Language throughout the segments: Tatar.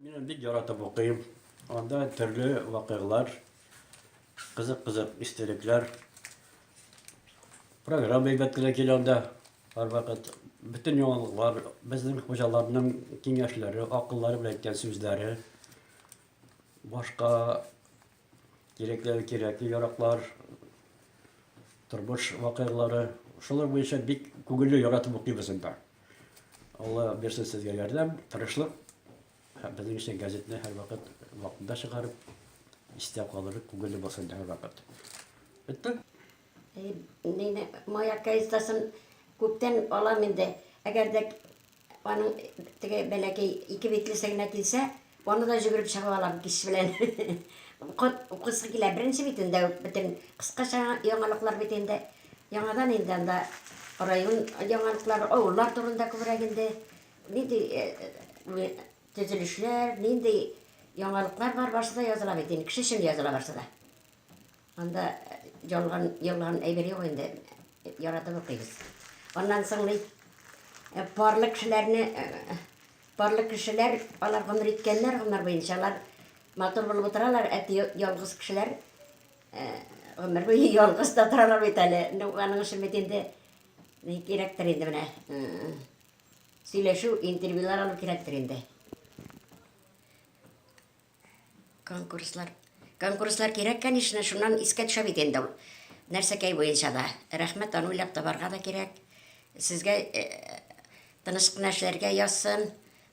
Мин бик яратып укыйм. Анда төрле вакыйгалар, кызык-кызык истәлекләр, программа әйбәт кенә килә анда. Һәрвакыт бөтен яңалыклар, безнең хуҗаларның киңәшләре, акыллары белән әйткән сүзләре, башка Кирәкләре кирәкле яраклар, тормыш вакыйгалары. Шулар буенча бик күңелле яратып укыйбыз инде. Алла бирсен сезгә ярдәм, тырышлык. Һәм безнең өчен газетны һәрвакыт вакытында чыгарып, истә калырлык күңелле булсын инде һәрвакыт. Бетте? Мин маяк газетасын күптән алам инде. Әгәр дә Аның теге бәләкәй ике битлесе генә килсә, аны да җөгереп чыгып алам кич белән. Укып, укысы килә. Беренче бит инде үк бөтен кыскача яңалыклар бит инде. Яңадан инде анда район яңалыклары, авыллар турында күбрәк инде. Нинди төзелешләр, нинди яңалыклар бар, барсы да языла бит инде. Кеше өчен языла барсы да. Анда җанган, елган әйбер юк инде. Яратып укыйбыз. Аннан соң ни? Э, парлы кешеләрне э, парлы кешеләр алар гомер иткәннәр гомер буенча алар матур булып утыралар, ә ялгыз кешеләр э, гомер буе ялгыз да торалар бит әле. Ну, аның өчен бит инде ни кирәктер инде менә. Сөйләшү, интервьюлар алу кирәктер инде. Конкурслар. Конкурслар кирәк, конечно, шуннан искә төшә бит инде ул. Нәрсәкәй буенча да. Рәхмәт, аны уйлап табарга да кирәк. Сезгә э, тыныч кына эшләргә язсын,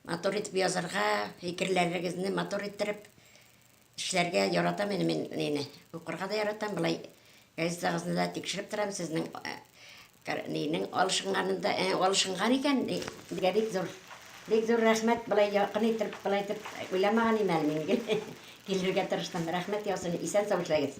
матур итеп язарга, фикерләрегезне матур иттереп эшләргә яратам инде мин нени. Укырга да яратам, былай Газетагызны да тикшереп торам, сезнең нинең алышынганын да, алышынган икән, бигә бик зур. Бик зур рәхмәт, былай якын итеп, былай итеп уйламаган идем әле мин. Килергә тырыштым. Рәхмәт яусын, исән-сау эшләгез.